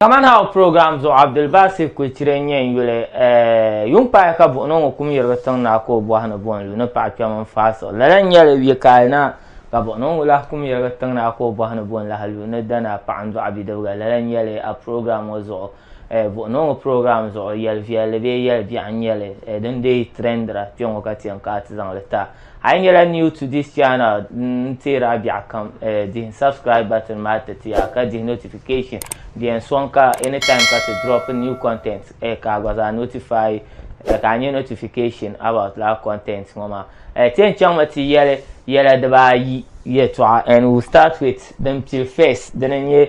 Kaman ha o program zuɣu Abdulbasir Kuichire n nyɛ n yuli eh, yuŋ paai ka buɣino ŋɔ kum yirigi tiŋ naa ka o bɔhi ni bo n lu ni paɣa kpɛm n faai siɣi. Lala n nyɛli yɛ kaai na ka buɣino ŋɔ lahi kum yirigi tiŋ naa ka o bɔhi ni bo n lahi lu ni dana paɣa n dɔɣi bidibiga. Lala n nyɛli a program ŋɔ zuɣu eh, buɣino ŋɔ program zuɣu yɛli viɛlli bee yɛli biɛɣu n nyɛli eh, din deei trendira kpɛŋɔ ka ti yɛn kaai ti zaŋ li ta. A yi nyɛla new to this channel n teeri a biɛɣu kam eh, dihi n subscribe button maa tiriti ya ka dihi notification bell n sɔŋ ka anytime ka ti drop new content eh, ka a gba zaa notify eh, ka a nyɛ notification about laa content ŋɔ maa eh, ti yɛn chaŋmi ti yɛli yɛla dibaayi yɛltɔɣa and we'll start with din pili first dini n nyɛ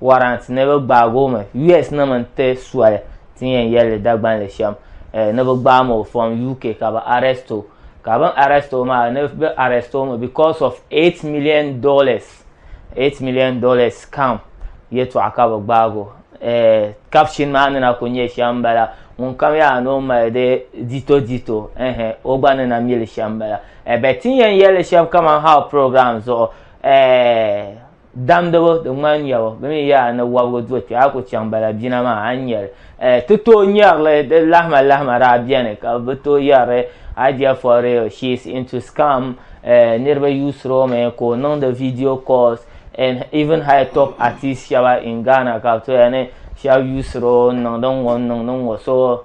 warrant ni bɛ gbaag o mi US nim n ti soli ti yɛn yɛlli Dagbanli shɛm eh, ni bɛ gbaam o from UK ka bɛ arrest o ka bɛn arrest o maa ni bɛ arrest o mi because of 8 million dollars 8 million dollars scam yɛtɔɣa ka bɛ gbaag o eh, caption maa ni na ku nyɛ shɛm bala ŋun kam yaa ni o mali di dito dito eh, eh, o gba ni na mili shɛm bala eh, bɛ ti yɛn yɛlli shɛm kaman how program zuɣu eh, damdibu di ŋmani nyɛbu bi mi yaa ni wɔbigu do kpɛ a ku chaŋ bala bina maa a nyɛli eh, ti tooi nyɛrili di lahima lahima daa bɛni ka bi tooi yɛrili idea for real she is into scam eh, niriba yuusiromi ka o niŋdi video calls and even high top artist shɛba in Ghana ka bi tooi ni shɛba yuusiro n niŋdi ŋɔ n niŋdi ŋɔ so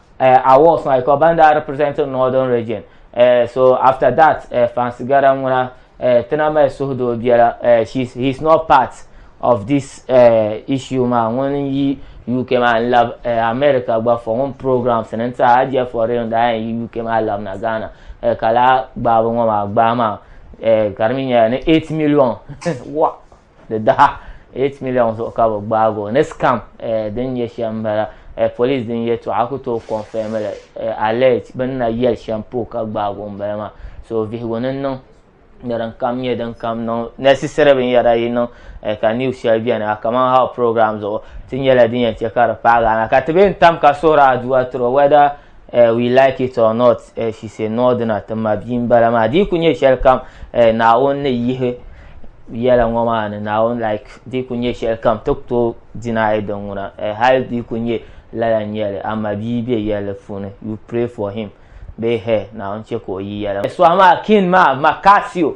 uh, awards maa because ban daa represent northern region uh, so after that uh, fancy gara ŋuna uh, tina mali suhudoo biɛla uh, she's, he's not part of this uh, issue maa ŋun yi uk maa n lab uh, america gba for ŋun programs ni n tiɛha a jɛ for real daa yi uk maa lab na ghana uh, ka laa gbaabu ŋɔ maa gbaa maa uh, ka di mi nyɛla ni 8 million wa di daha 8 miliɔn zuɣu ka bi gbaagi o ni scam eh, din nyɛ shɛm n bala eh, polis din yɛtɔɣa ku tooi kɔnfɛmi li eh, alɛt bin na yɛli shɛm puu ka gbaagi o n bala maa so vihigu ni niŋ ni din kam nyɛ din kam niŋ necessary binyɛra yi niŋ ka news shɛli bɛni a kaman how program zuɣu ti nyɛla din yɛn chɛ ka di paagi ana ka ti bɛ n tam ka suhuri aduwa tiro whether uh, we like it or not uh, she say no dina ti ma bia m-bala maa di ku nyɛ shɛli kam uh, naawuni ni yihi yɛla ŋɔ maa ni naawuni like di ku nyɛ shɛli kam ti ku deny din ŋuna uh, hali di ku nyɛ lala nyɛli ama bia be yɛli puuni you pray for him bee her naawuni chɛ ka o yi yɛla sɔhi maa kin maa makasio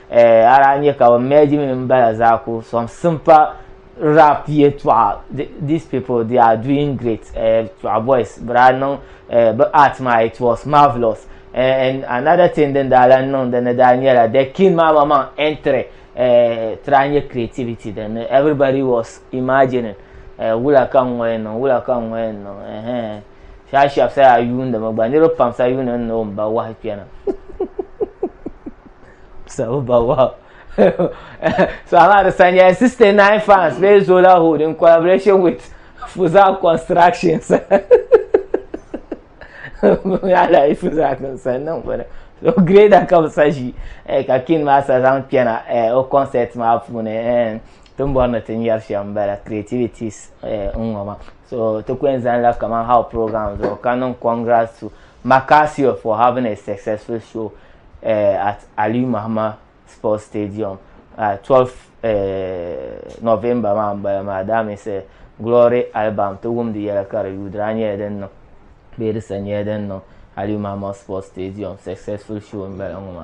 Eh, ara a nya ka bɛ merge mini m bala zaa ku sɔŋ simpa rap yɛtɔɣa these people they are doing great eh, tɔɣa boys bɛ daa niŋ eh, bɛ art maa it was marvelous eh, and another thing din daa lan niŋ dini daa nyɛla the king maa ma maŋ entry eh, ti daa nyɛ creativity dini everybody was imagining eh, wula ka n ŋɔ yɛn niŋ wula ka n ŋɔ yɛn niŋ eh, eh. saa shɛb saa yuundimi gba niriba pam saa yuuni ni o mba wahi kpɛna sabu ba wahi so I'm at Sanya 69 fans bee Zola Hood in collaboration with Fuzak Constructions ala yi Fuzak n san niŋ bini so grade ka bi sa ʒi eh, ka kin maa sa zaŋ kpɛna eh, o concert maa puuni eh, ti ni bɔri ni ti nyari shɛm n bala creativities n ŋɔ ma so ti ku yɛn zaŋ la kaman how program zuɣu ka niŋ congrats to Macasio for having a successful show uh, at Aliyu Mahama Sports Stadium uh, 12 uh, November maa n bala maa that means uh, Glory album ti wumdi yɛla ka di yuudira nyɛla din niŋ bee di sa nyɛla din niŋ Aliyu Mahama Sports Stadium successful show n bala ŋɔ ma